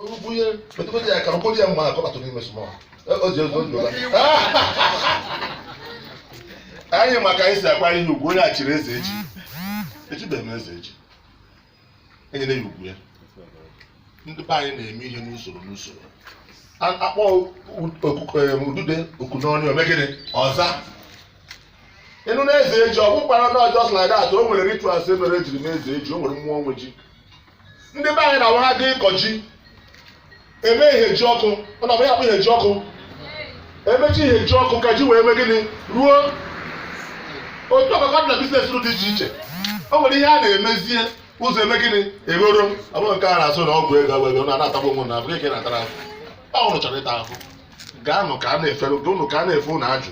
bunye metụkọta ya ka ọ kpọrọ ya mma akọbatụ n'ime small o ji ego ndụla anyị maka anyị si akwanye ya ugwu onye e chiri eze echi echibeghị m eze echi enyere ya ugwu ya ndị be anyị na-eme ihe n'usoro n'usoro A- akpọ okuko udude oku n'ọnụ o mee gịnị ọ zaa ị nụ na eze ji ọ bụkwara na ọ just like that o nwere rituals e mere ejiri mee eze ji o nwere mmụọ nwe ji ndị be anyị na-awa ha dị ịkọ ji eme ihe ji ọkụ ọ na ya akpụ ihe ji ọkụ emechi ihe ji ọkụ ka ji wee mee gịnị ruo otu ahụ ka ọ dị na business dị iche iche o nwere ihe a na-emezie ụzọ eme gịnị eghoro ọ bụghị nke a na-asị na ọgwụ ego ọgwụ ego ụnụ na-atagbu onwe na abụghị ka ị na-atara ahụhụ ụnụ chọrọ ịta ahụhụ gaanụ ka a na-efere ụnụ ka a na-efe ụnụ ajụ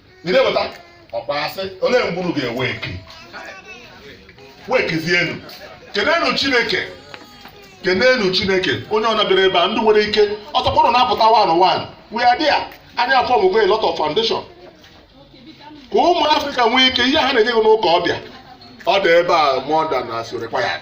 ị na-eweta ọkpa asị olee mgbe unu ga-awake wakezienu kenenu chineke kenenu chineke onye ọbụna bịara ebe a ndị nwere ike ọtọkpọrọ na-apụta one one we are there anyị aformụgo a lot of foundation ka ụmụ Africa nwee ike ihe ha na-enye gị n'ụka ọbịa ọ dị ebe a more than as required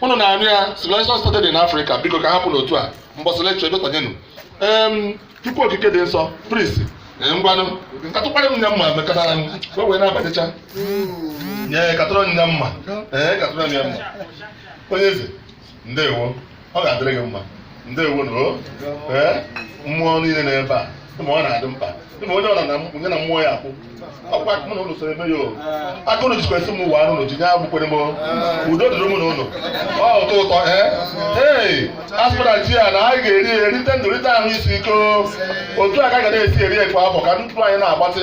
ụnụ na-anụ ya civilization started in Africa biko ka hapụ n'otu a mbọsị lecture ebetanyenụ em Chukwu okike dị nsọ priest ee, ngwanụ katụkwara m nya mma mekatara m ka o wee na-abatecha nye katụrụ m nya mma ee katụrụ m ya mma onye eze ndewo ọ ga-adịrị gị mma ndewonụ o ee mmụọ niile nọ ebe a ma ọ na-adị mkpa ma onye ọra na onye na mmụọ ya akwụ ọkwa mụ na ụnụ soro eme ya o aka ụnụ jikwa esi m ụwa anụ n'oji nye agbụkwere m o. udo dịrị mụ na ụnụ o ụtọ ụtọ ee ee aspara ji a na anyị ga-eri ya erite ndụ rite ahụ isi ike o. otu a ka a ga na-esi eri ya kwa afọ ka ndụ anyị na-agbatị